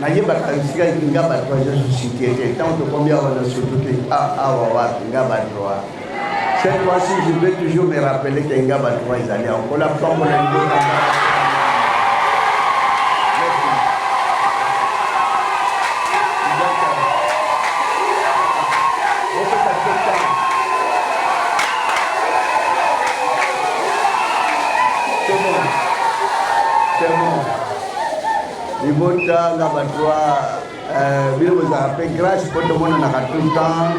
nayebaka esika nga bato aza société te ntango tokomi awa na soto te awa wapi nga bato wa cette fois-ci je vais toujours me rappeler ke nga bato wa ezali awa kola pambo na libota Libota na bato eh, bino bozalaka mpe grâce mpo tomonanaka tout le temps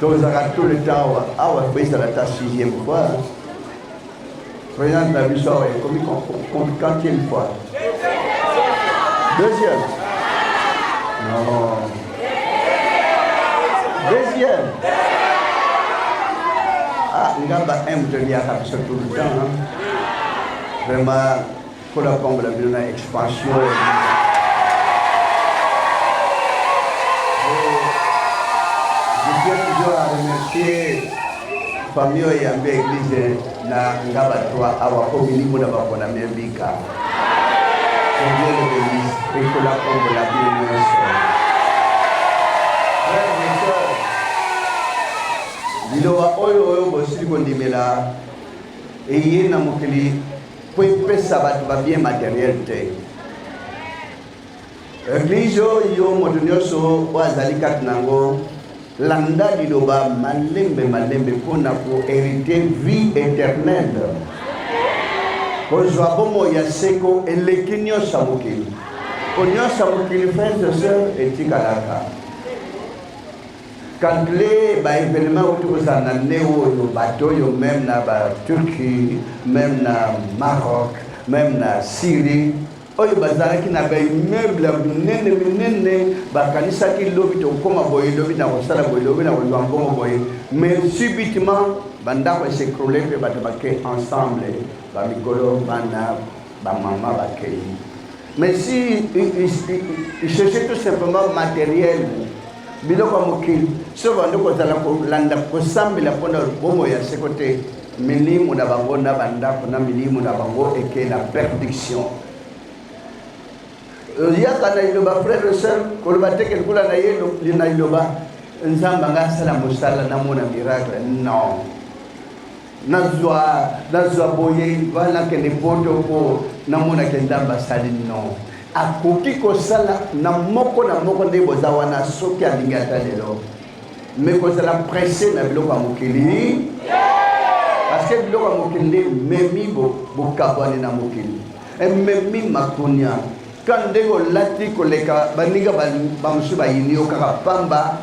tozalaka tout le temps awa awa toyesala ata sixième fois présence na biso awa ekomi quantième fois deuxième non deuxième ah nga ba m toliaka biso tout le temps vraiment Nkolo apambola bino na expansion. famille oyo yambi eglize na nga bato awa mpo milimo na baponami ebika eglise eglise ekola kombola bino nyonso liloba oyo oyo bosili kondimela eye na mokili mpo epesa bato ba bien materiel te eglise oyo moto nyonso oyo azali kati na yango landa liloba malembe malembe mpo na koherite vie éternelle kozwa bomoi ya seko eleki nyonso ya mokili mpo nyonso ya mokili frère de sœur etikalaka Calculer ba evenements oyo tokozala na nde oyo bato oyo meme na ba Turquie, meme na Maroc, meme na Syrie oyo bazalaki na baimmeuble ya minene minene bakanisaki lobi tokokoma boye lobi na kosala boye lobi na kozwa mbongo boye mais subitement bandako esekrole mpe bato bake ensemble bamikolo bana Ba maman ba keyi. Mais si il cherchait tout simplement matériel biloko ya mokili soki bandi kozala kolanda kosambela mpo na bomo ya seko te milimu na bango na bandako na milimu na bango eke na perdiction oyaka na iloba frère et sœur koloba te ke lokola na ye na iloba nzambe anga asala mosala namona miracle non nazwa nazwa boye wana nakende poto mpo namonake nzambe asali no akoki kosala na moko na moko nde boza wana soki alingi ata lelo me kozala presse na biloko ya mokili parceke biloko ya mokili nde memi bokabwani na mokili ememi makonia ka ndenge olati koleka baninga bamosusu bayini yo kaka pamba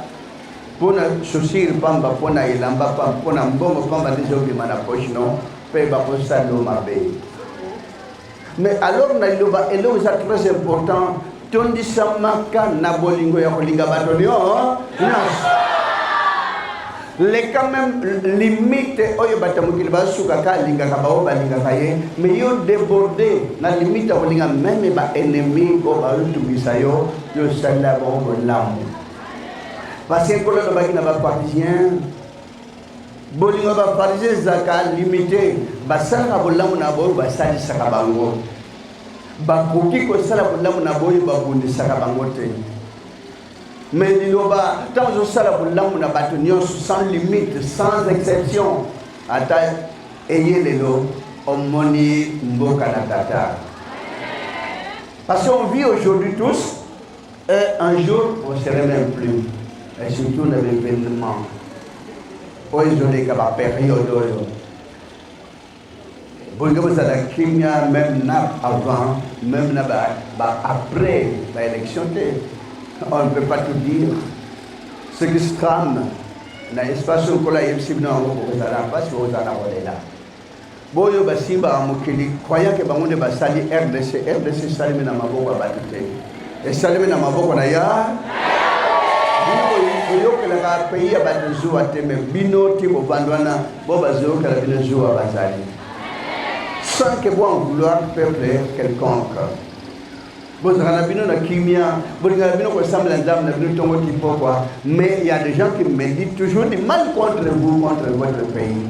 mpo na chaussure mpamba, mpo na elamba mpamba, mpo na mbongo mpamba nde ezobima na poche no mpe bakosala yo mabe. Mais alors na liloba eloko eza très important, tondisamaka na bolingo ya kolinga bato nyonso leka meme limite oyo bato ya mokili basukaka alingaka baoyo balingaka ye mais yo deborde na limite ya kolinga meme baennemi oyo baotungisa yo yo osalela bango bolamu Parce que Nkolo alobaki na bapharisien bolingo ya bapharisien ezalaka limite basalaka bolamu na baoyo basalisaka bango bakoki kosala bolamu na baoyo babundisaka bango te me liloba ntango ozosala bolamu na bato nyonso sans limite sans exception ata eye lelo omoni mboka na tata parce qu'on vit aujourd'hui tous Et un jour, on se serait même plus. Et surtout na l'événement. Oyo ezoleka ba période oyo. Bolingo bozala kimia même na avant, même na ba, ba après ba élection te. On ne peut pas tout dire. Ce qui se trame na espace oyo kola yebisi bino yango bokozala mpasi bokozala kolela. Boyo basimba a mokili croyant que bango nde basali RDC. RDC esalemi na maboko ya bato te, esalemi na maboko na ya koyokelaka pays ya bato zuwa te, me bino ti bovandi wana bo bazoyokela bino zuwa bazali sans que bo en vouloir peuple quelconque bozalaka na bino na kimia bolingaka bino kosambela nzambe na bino ntongo ti pokwa mais il y a des gens qui méditent toujours du mal contre vous contre votre pays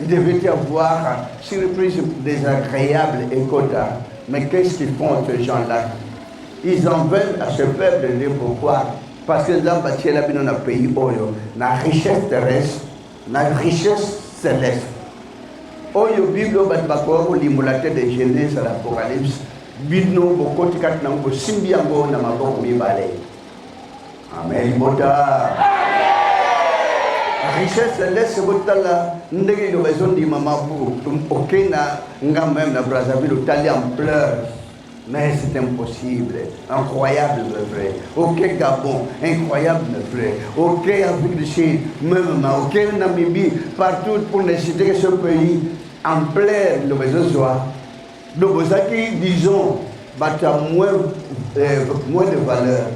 Il devait y avoir surprise désagréable et Kota. Mais qu'est-ce qu'ils font ces gens-là Ils en veulent à ce peuple de pourquoi Parce que Nzamba Tiela Bino na pays Oyo, na richesse terrestre, na richesse céleste. Oyo Bible bato bakoka kolimbola te de Genèse à l'Apocalypse, bino bokoti kati na yango bosimbi yango na maboko mibale. Amen libota. Richesse laisse botala ndenge liloba ezondimama po oke na nga meme na Brazzaville otali ampleur mais c'est impossible incroyable mais vrai ok Gabon incroyable mais vrai ok Afrique du Sud même ma ok Namibie partout pour ne citer que ce pays ampleur liloba ezozwa Donc bozalaki disons bato ya moins, euh, moins de valeur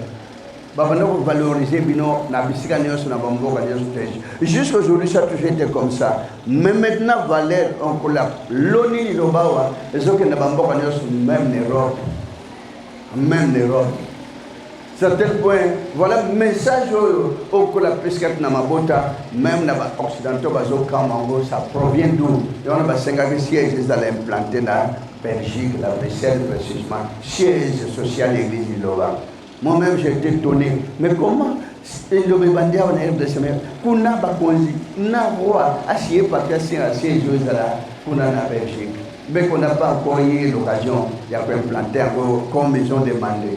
babanda kovaloriser bino na bisika nyonso na bamboka nyonso te jusqu'à aujourd'hui ça toujours été comme ça mais maintenant valeur onkola loni liloba awa ezokende bamboka nyonso même na europe même na europe certain point voilà message oyo okola pescate na mabota même na ba occidentaux bazokama yango ça provient d'où yango basengaki siège ezala implante na Belgique, la Bruxelles précisément, siège social église du Lova. Moi-même, j'étais étonné. Mais comment elobe bandia wana rdc me kuna bakonzi na roi asiye parti asinga siège oyo ezala kuna na belgique mais qu'on n'a pas encore eu l'occasion ya koimplante yango comme ils ont demandé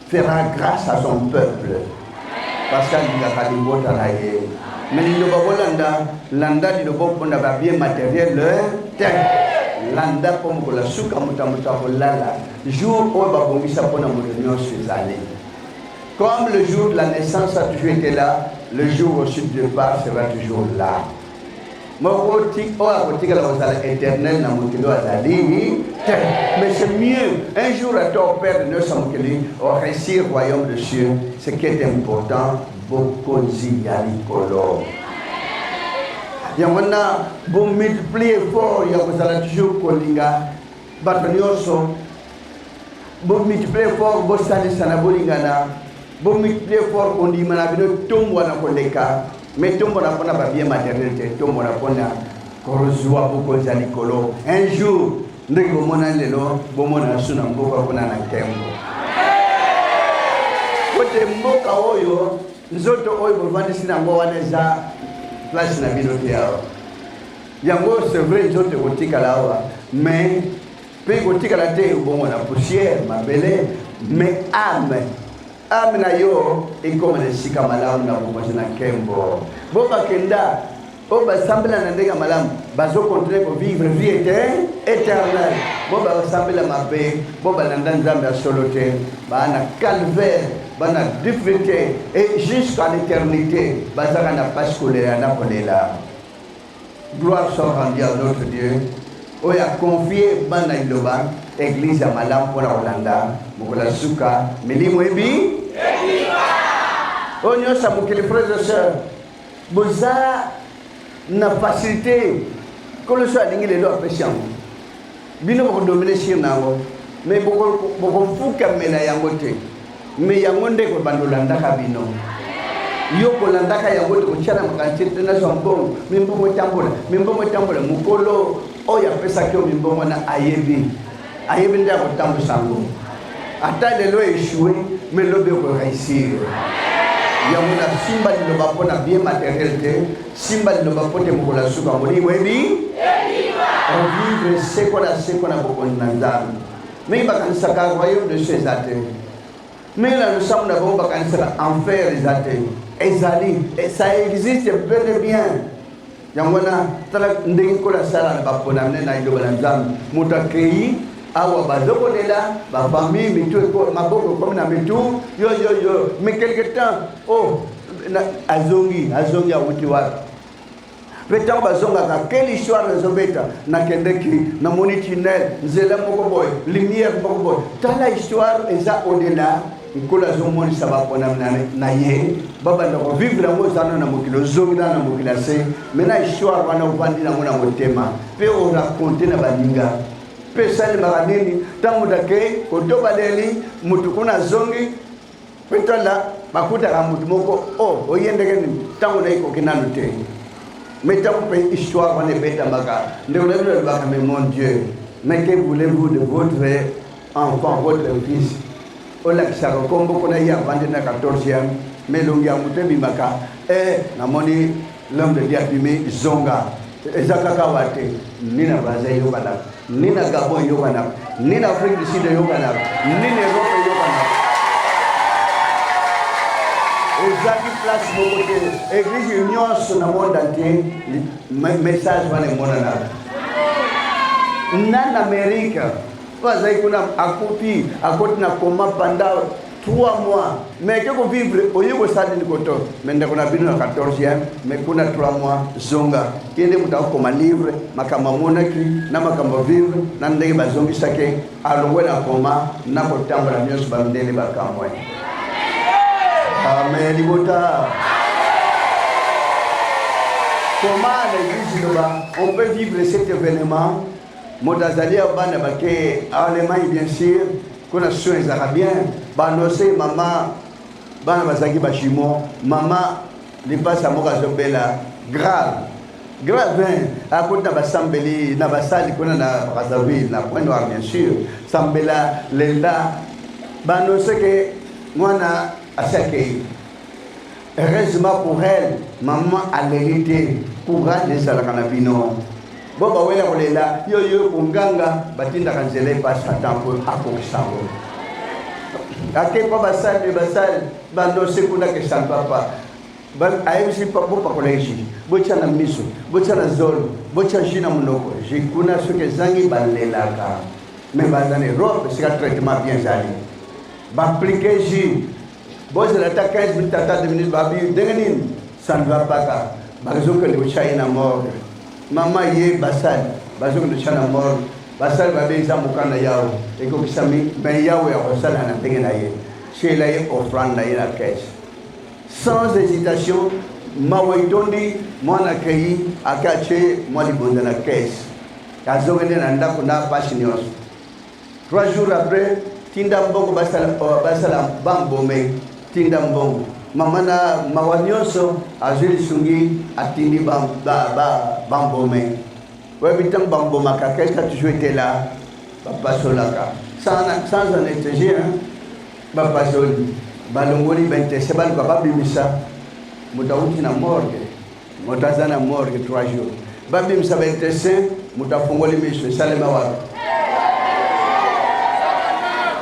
fera grâce à son peuple parce que alingaka libota na ye me liloba bolanda landa liloba opona babie matériel te landa mpo mokolo ya suka moto moto akolala jour oyo babongisa mpo na moto nyonso ezali comme le jour de la naissance a toujours été là le jour aussi du départ sera toujours là moko ti oyo akotikala kozala éternel na mokili oyo azali te mais c'est mieux un jour ata operde nyonso ya mokili oresir royaume de cieux ce qui est important bokonzi ya likolo yango wana bomultiplie effort ya kozala toujours kolinga Bato nyonso, bomultiplier fort, bosalisana, bolingana, bomultiplier fort kondima na bino etombwana koleka, mais etombwana mpo na babie maternel te, etombwana mpo na kozwa bokonzi ya likolo un jour nde komona lelo bomona su na mboka kuna na ntembo kote mboka oyo nzoto oyo bovandisi na yango wana eza place na bino te awa yango c'est vrai nzoto ekotikala awa mais mpe ekotikala te ebongo na poussière mabele mais ame ame na yo ekoma na esika malamu na bokonzi na nkembo bo bakenda oyo basambela na ndenge ya malamu bazokontinue kovivre vie ete éternel bo basambela mabe bo balanda nzambe ya solo te baa na calvaire bana difficulté et jusqu'à l'éternité bazaka na pasi kolela na kolela Gloire soit rendue à notre Dieu oyo a confie bana liloba eglise ya malamu mpo na kolanda mokolo ya suka milimo ebi oyo nyonso ya mokili frères et sœurs boza na facilité nkolo so alingi lelo apesi yango bino bokodomine sire na yango me bokofukamela yango te Mais yango nde ko bandolandaka bino. Yo kolandaka yango te kotia na makanisi te na zwa mbongo, mimbongo etambola, mimbongo etambola. Mokolo oyo apesaki yo mimbongo na ayebi, ayebi nde akotambwisa yango. Ata lelo echouer, mais lobi oko réussir. yango nasimba liloba mpo na bien matériel te simba liloba mpo te mokolo ya suka molimo ebi ovivre seko na seko na bokonzi na nzambe Mais bakanisaka royaume de chez eza te mais na losambo na bango bakanisaka enfer eza te ezali ça existe bel et bien yango wana tala ndenge nkolo asala na baponamne na liloba na nzambe moto akei awa bazokolela bafamille mitu maboko ekomi na mitu yoyoyo mais quelque temps o oh, azongi azongi awuti wapi mpe ntango bazongaka quelle histoire ezobeta nakendeki namoni tunnel nzela moko boye lumière moko boye tala histoire eza odela nkolo azomonisa baponami na ye babanda kovivre yango ozana na mokili ozongila na mokili ya se mai na histoire wana ovandi nango na motema mpe orakonte na baninga mpe esalemaka nini ntango moto akei kotobaleli moto kuna azongi Ntwala bakutaka moto moko o oh, oye ndenge nini ntango na ekoki nanu te mais ntango mpe histoire wana ebetamaka ndeko na bino alobaka mais mon dieu mais que voulez-vous de votre enfant votre fils olakisaka nkombo kuna ye avandi na 14e mais elongi ya moto ebimaka e namoni L'homme de Dieu a abîmé Zonga. eza kaka awa te ni na baza eyokanaka ni na gabon eyokanaka ni na afrique du sud eyokanaka ni na europe eyokanaka ezaki place moko te eglise nyonso na monde entier message wana emonanaka na na amerika oyo azali kuna akuti akoti na koma panda 3 mois mais ke ko vivre oye kosala nini koto mais ndeko na bino na 14e mais kuna 3 mois zonga ye nde moto akokoma livre makambo amonaki na makambo vivre na ndenge bazongisaki alongwe na koma na kotambola nyonso bandele bakamwe amen libota comment l'église de on peut vivre cet événement moto azali ya bana bake allemagne bien sûr kuna soin ezalaka bien banose mama bana bazalaki bajumeau mama lipasa moko azobela grave grave akoti na basambeli na basali kuna na brazzaville na point noir bien sûr sambela lenda banose ke mwana asi akei Heureusement pour elle, maman aleli te. Courage ezalaka na bino. Bo bawela kolela yo yo konganga batindaka nzela epai Satan mpo akokisa yango. Ake mpo basali basali bandose kuna kesali papa ayebisi bopakola ji botya na miso botya na zolo botya ji na monoko ji kuna soki ezangi balelaka me baza na erope esika traitement bien ezali baaplike ji bozela ata 15 minutes ata 2 minutes babi ndenge nini ça ne va pas kaka bazokende kotya ye na morgue mama ye basali bazokende kotya na morgue basali babe eza mokanda yawe ekokisami me yawe akosala na ndenge na ye tyela ye offrande na ye na caisse sans hésitation mawa etondi mwana akei ake atye mwa libonza na caisse azokende na ndako na pasi nyonso Trois jours après, tinda mbongo basala oh, basala bambome, tinda mbongo. Mama na mawa nyonso azwi lisungi atindi bambome ba, ba, bambome. oyebi ntango bambomaka quelque a toujours été là bapasolaka sans sans anesthésie hein? bapasoli balongoli bentese baluka babimisa moto awuti na morgue moto aza na morgue 3 jours babimisa ba intestin moto afongoli miso esalema wapi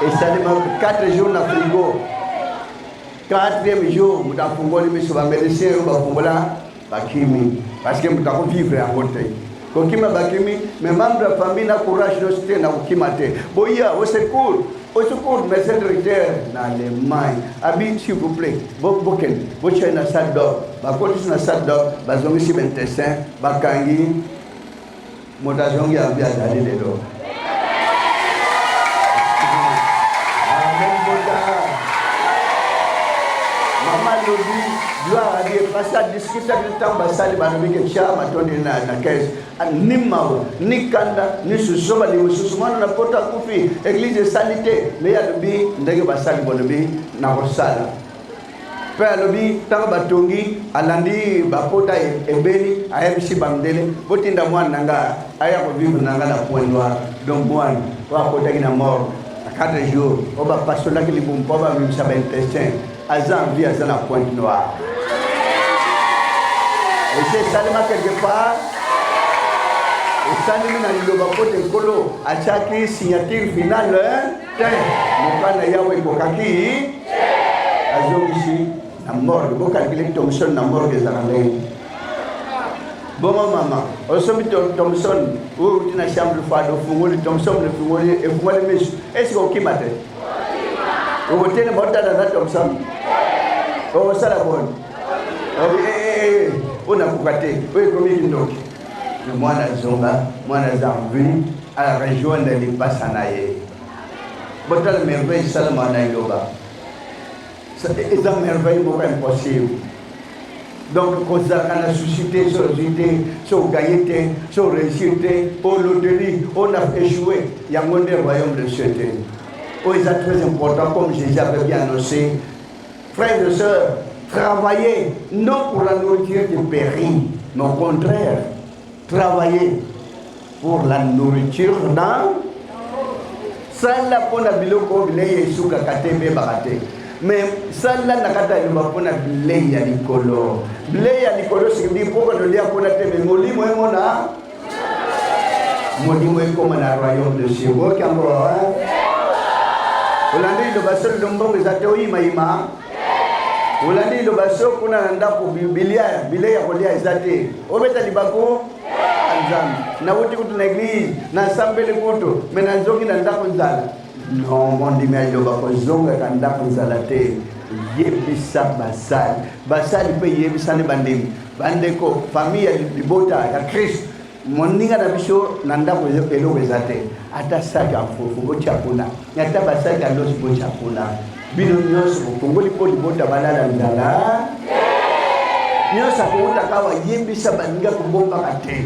esalema 4 jours na frigo 4e jour moto afongoli miso bamédecin oyo bafongola bakimi parce que moto akovivre yango te kokima bakimi me membre ya famille na courage nyonso te na kokima te boya au secours au secours mais cette recteur na allemagne abi s'il vous plaît bokende botyai na salle d'or bakotisi na salle d'or bazongisi bentestin bakangi moto azongi abi azali lelo asali ntango basali balobi ke tya matondi na kese ni mawa ni kanda ni susu balingi mosusu mwana na poto akufi eglize esali te me alobi ndenge basali balobi nakosala mpe alobi ntango batongi alandi bapota ebeli ayebisi bamdele botinda mwana na nga aya kovivre na nga na point noir donc mwana oyo akotaki na mort na 4 jours oyo bapasolaki libumu mpo bamimisa baintestin aza en vie aza na point noir esi esalema quelque part esalemi na liloba mpo te nkolo atyaki signature finale te mokano ya Yawe ekokaki te. Azongisi na morgue, bokalkile Thomson na morgue ezala ndenge bongo mama osomi Thomson oyo uti na chambre fado ofungoli Thomson efungoli efungoli misu esika okima te okotelema otala na Thomson okosala boni onakoka te oyo ekomi kindoki na mwana zonga mwana zambi a rejoindre lipasa na ye botala merveille esalama na eloba eza merveille moko impossible donc kozalaka na susi te so ozwi te so ogaye te so oreusir te o loterie o na échoué yango nde royaume de cieux te oyo eza très important comme jésus avait bien annoncé Frères et sœurs, travaillez non pour la nourriture qui périt, mais au contraire, travaillez pour la nourriture dans sala mpo na biloko bilei esukaka te mpe ebaka te me sala na kati ya nyumba mpo na bilei ya likolo bilei ya likolo sikidi mpo konolia kuna te me molimo emona molimo ekoma na royaume de Dieu boyoki yango olandi liloba solo to mbongo eza te oyimayima olandi liloba so kuna na ndako bilia bilei ya kolia eza te obeta libaku nzambe nauti kutu na eglize nasambeli kutu me nazongi na ndako nzala no mondimi ya liloba kozongaka ndako nzala te yebisa basali basali mpe yebisani bandimi Bandeko, famille ya libota ya Christ, moninga na biso na ndako eloko eza te, ata saki ya fufu botya kuna, ata basaki ya losi botya kuna, bino nyonso bokongoli mpo libota balala nzala nyonso akouta kawa yebisa baninga kobombaka te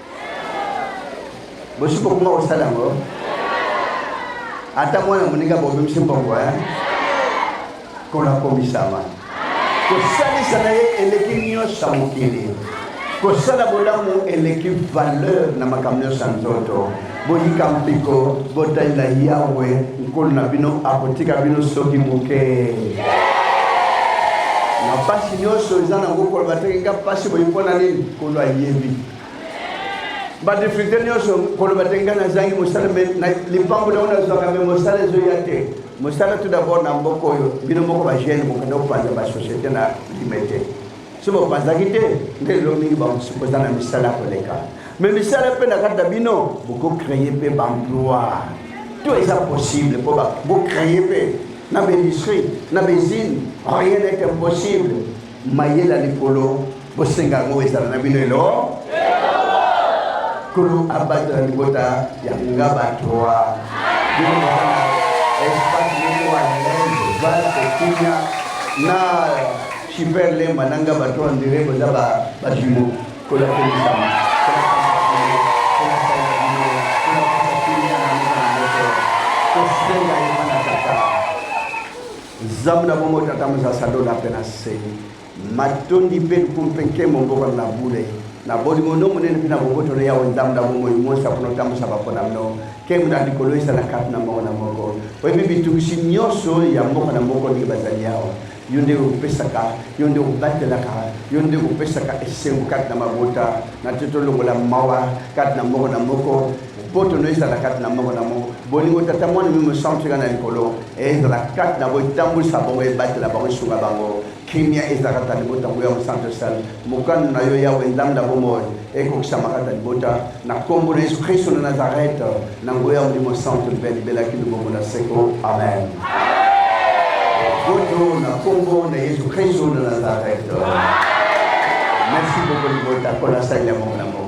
bosi kokoma kosala yango ata mwana moninga bobimisi mbongo eh? kona komisama kosalisa na ye eleki nyonso ya mokili kosala bolamu eleki valeur na makambo nyonso ya nzoto boyika mpiko botalela yawe nkolo na bino akotika bino soki moke yeah. na mpasi nyonso eza nango koloba te nga mpasi boye mpo na nini kolo ayebi badifficulté nyonso koloba te ngai nazangi mosala me lipambo na oyo nazwaka me mosala ezoya te mosala tout d'abord na mboka oyo bino moko bagene bokende kopanza basociété na lime te so bopanzaki te nde lelo mingi boza na misala koleka me misala mpe na kati na bino bokocreye mpe baemploi to eza possible mpo bocreye mpe na baindustrie na baisine rien est impossible Mayele ya likolo bosenga yango ezala na bino elo kolo abatela libota ya nga bato wa espace moko ya lenge vale kokunya na super lemba na nga bato wa ndire boza bajimo kolakelisama Nzambe na bomoi, Tata Moza Sadola mpe na se, matondi mpe lokumu mpe nkembo mbokano na bule na bolingo no monene mpe na boboto na yawe Nzambe na bomoi monsa mpo notambwisa bapona mno nkembo na likolo esa na kati na moko na moko oyebi bitungisi nyonso ya mboka na moko ndenge bazali yawe yo nde opesaka yo nde obatelaka yo nde opesaka esengo kati na mabota na te tolongola mawa kati na moko na moko Boto no ezala kati na moko na moko. Bolingo Tata Mwana mimi mosantu tika na likolo ezala kati na bo etambwisa bango ebatela bango esunga bango kimia ezalaka ta libota yango ya mosantu esali mokano na yo yawe nzambe na bomoi ekokisama kati na libota na nkombo na yesu kristo na nazarete na nguya ya molimo santu mpe libelaki libongo na seko amen boto na nkombo na yesu kristo na nazarete merci beaucoup libota mpo nasali ya mongo na mongo